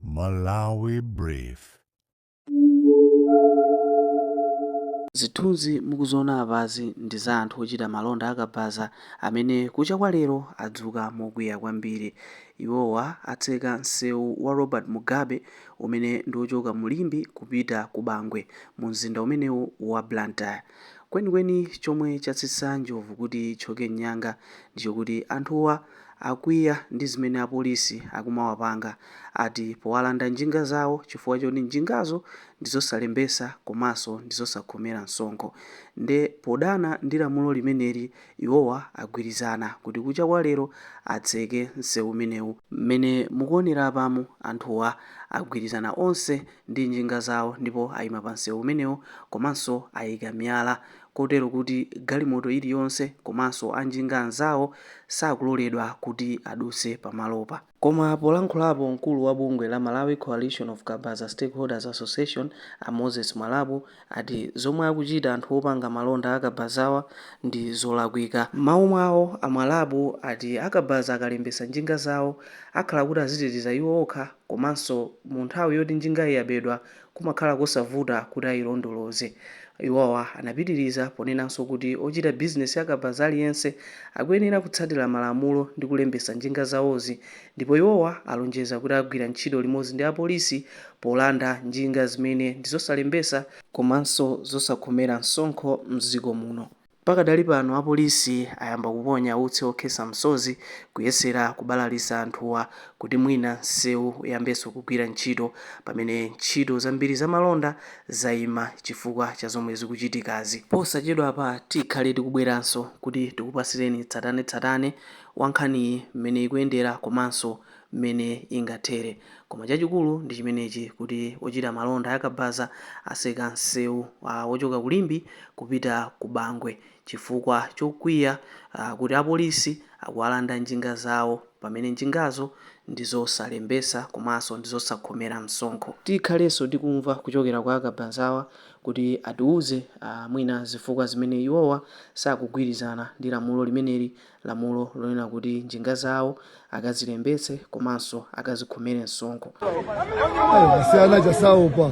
Malawi Brief. Zithunzi mukuziona apazi ndi za anthu ochita malonda a kabaza amene kucha kwa lero adzuka mokwiya kwambiri. Iwowa atseka nsewu wa Robert Mugabe umene ndi ochoka mu Limbe kupita ku Bangwe mu mzinda umenewu wa Blantyre. Kwenikweni chomwe chatsitsa njovu kuti ithyoke mnyanga ndi chokuti anthuwa. akwiya ndi zimene apolisi akumawapanga ati powalanda njinga zawo chifukwa choti njingazo ndizosalembesa komanso ndizosakhomera msonkho nde podana ndi lamulo limeneli iwowa agwirizana kuti kucha kwa lero atseke nsewu umenewu. Mmene mukuonera apamu anthuwa agwirizana onse ndi njinga zawo ndipo ayima pa nsewu umenewu komanso ayika miyala kotero kuti galimoto iliyonse komanso anjinga anzawo sakuloledwa kuti adutse pamalopa. Koma polankhulapo mkulu wa bungwe la Malawi Coalition of Kabaza Stakeholders Association a Moses Mwalabu ati zomwe akuchita anthu opanga malonda a kabazawa ndi zolakwika. M'mawu mwawo a Mwalabu ati a kabaza akalembetsa njinga zawo akhala kuti aziteteza iwo okha komanso mu nthawi yoti njingayi yabedwa kumakhala kosavuta kuti ailondoloze. Iwowa anapitiriza ponenanso kuti ochita bizinesi ya kabaza aliyense akuyenera kutsatira malamulo ndi kulembetsa njinga zawozi ndipo iwowa alonjeza kuti agwira ntchito limodzi ndi apolisi polanda njinga zimene ndizosalembetsa komanso zosakhomera msonkho m'dziko muno. Pakadali pano apolisi ayamba kuponya utsi okhesa msozi kuyesera kubalalisa anthuwa kuti mwina nseu uyambeso kugwira ntchito pamene ntchito zambiri za malonda zaima chifukwa cha zomwe zikuchitikazi. Posachedwapa tikhale tikubweranso kuti tikupasireni tsatanetsatane wa nkhaniyi mmene ikuyendera komanso mmene ingathere. Koma chachikulu ndi chimenechi kuti ochita malonda a kabaza aseka msewu wochoka ku Limbe kupita ku Bangwe chifukwa chokwiya kuti apolisi akuwalanda njinga zawo pamene njingazo ndi zosalembesa komanso ndi zosakhomera msonkho. Tikhalenso tikumva kuchokera kwa akabazawa kuti atiuze mwina zifukwa zimene iwowa sakugwirizana ndi lamulo limeneli lamulo lonena kuti njinga zawo akazilembetse komanso akazikhomere msonkho. asiyana aja saopa